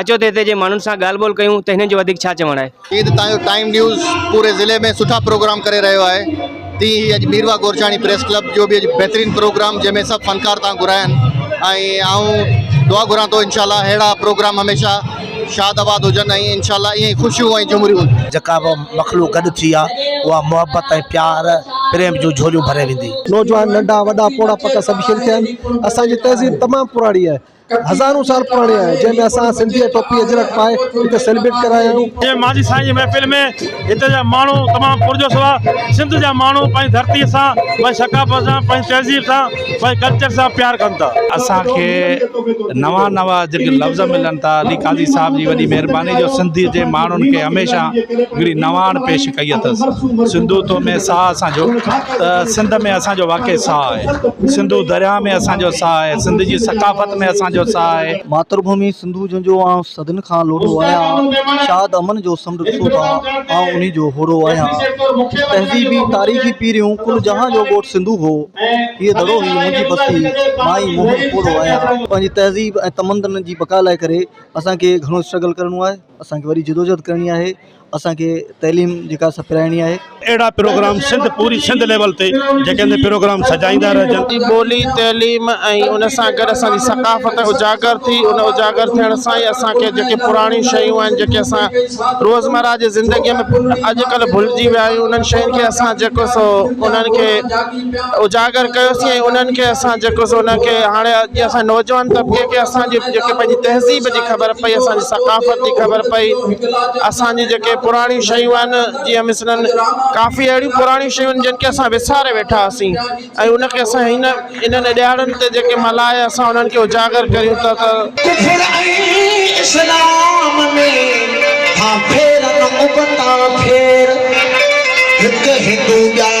اچو ته هتي جي ماڻهن سان ڳالهه ٻولهه ڪيون ته هنن جو وڌيڪ ڇا چوڻ آهي. جيئن ته تهان جو ٽائيم نيوز پوري ضلعي ۾ سٺا پروگرام ڪري رهيو آهي تيئن ئي اڄ ميرواهه گورچاڻي پريس ڪلب جو به اڄ بهترين پروگرام جنهن ۾ سڀ فنڪار تهان گهرايا آهن ۽ آئون دعا گهران ٿو انشاء الله اهڙا پروگرام هميشه شاد آباد هجن ۽ انشاء الله ائين ئي خوشيون ۽ جهمريون جيڪا به مخلوق گڏ ٿي آ اها محبت ۽ پيار پريم جون جهوليون ڀري ويندي. نوجوان ننڍا وڏا پوڙها پٽا سڀ شريڪ ٿيا آهن اسان جي تهذيب تمام پراڻي آهي هزارون سال پراڻي آهي جنهن ۾ اسان سنڌي ٽوپي اجرڪ پائي هتي سيلبريٽ ڪرايا آهيون جي ماضي سائين جي محفل ۾ هتي جا ماڻهو تمام پرجوش هئا سنڌ جا ماڻهو پنهنجي ڌرتي سان پنهنجي ثقافت سان پنهنجي تهذيب سان پنهنجي ڪلچر سان پيار ڪن ٿا اسان کي نوان نوان جيڪي لفظ ملن ٿا علي قاضي صاحب جي وڏي مهرباني جو سنڌي جي ماڻهن کي هميشه هڪڙي نواڻ پيش ڪئي اٿس سنڌو تو ۾ ساهه اسان جو ته سنڌ ۾ اسان جو واقعي ساهه آهي سنڌو درياء ۾ اسان جو ساهه آهي سنڌ جي ثقافت ۾ اسان جو ساهه آهي. ماتر ڀومي سنڌو جنهنجو آئون صدين کان لوڏو آهيان، شاد امن جو سمنڊ ڏسو ٿا، آئون انهي جو هوڙو آهيان. تهذيبي، تاريخي پيريون ڪل جهان جو ڳوٺ سنڌو هو. هيء دڙو هي منهنجي بستي، مان ئي موهن پوڙهو آهيان. پنهنجي تهذيب ۽ تمدن جي بقا لاء ڪري اسان کي گهڻو اسٽرگل ڪرڻو آهي، اسان کي وڏي جدوجهد ڪرڻي آهي. اسان کي تعليم جيڪا سپرائڻي آهي. اهڙا پروگرام سنڌ پوري سنڌ ليول تي جيڪي هندي پروگرام سجائيندا رهجن. جي ٻولي، تعليم ۽ ان سان گڏ اسان جي ثقافت اجاگر ٿي، ان اجاگر ٿيڻ سان ئي اسان کي جيڪي پراڻيون شيون آهن جيڪي اسان روزمره جي زندگيء ۾ اڄڪلهه ڀلجي ويا آهيون انهن شين کي اسان جيڪو سو انهن کي اجاگر ڪيو سين ۽ انهن کي اسان جيڪو سو انهن کي هاڻي اڄ اسان نوجوان طبقي کي اسان جي جيڪي پنهنجي تهذيب جي خبر پئي اسان جي ثقافت جي خبر پئي اسان جي جيڪي پراڻيون شيون آهن جيئن مثلاً ڪافي اهڙيون پراڻيون شيون آهن جن کي اسان وساري ويٺا هئاسين ۽ ان کي اسان هن انهن ڏهاڙن تي جيڪي ملهائي اسان انهن کي اجاگر ڪريون ٿا ته ڪفر ۽ اسلام ۾ ٿا ڦيرن ابتا ڦير هڪ هندو ٻيا.